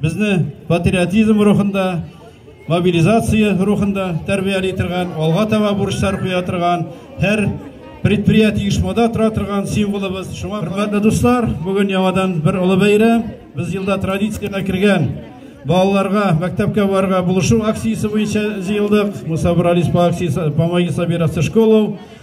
Безне патриотизм рухында, мобилизация рухында тәрбияли торган, алга таба бурычлар куя торган, һәр предприятие оешмада тора торган символыбыз. Шуңа хөрмәтле дуслар, бүген яңадан бер олы бәйрәм. Без елда традициягә кергән балаларга мәктәпкә барырга булышу акциясе буенча җыелдык. Мусабыр Алис по акциясе, по магисабирасы школу.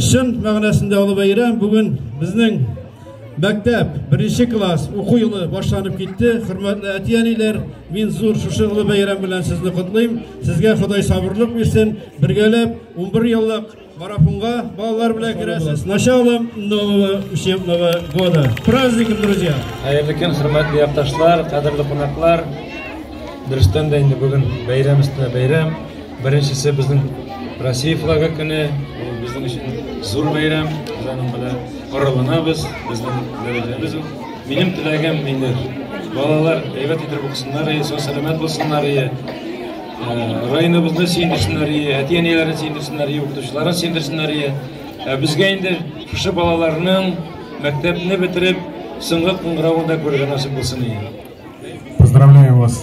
Чын мәгънәсендә олы бәйрәм бүген безнең мәктәп беренче класс уку елы башланып китте. Хөрмәтле әти-әниләр, мин зур шушы олы бәйрәм белән сезне котлыйм. Сезгә Ходай сабырлык бирсен. Бергәләп 11 еллык марафонга балалар белән керәсез. Началом нового учебного года. Праздником, друзья. Хәерле көн, хөрмәтле якташлар, кадерле кунаклар. Дөрестән дә инде бүген бәйрәм өстенә бәйрәм. Беренчесе безнең Россия флагы көне, ул безнең өчен зур бәйрәм, без аның белән корылынабыз, безнең дәрәҗәбез ул. Минем теләгем инде, балалар әйбәт итеп укысыннар, сау сәламәт булсыннар, э, районыбызны сөендерсеннәр, әти-әниләрен сөендерсеннәр, укытучыларын сөендерсеннәр. Ә безгә инде шушы балаларның мәктәпне бетереп, соңгы кыңгыравында күргән насыйп булсын. Поздравляю вас!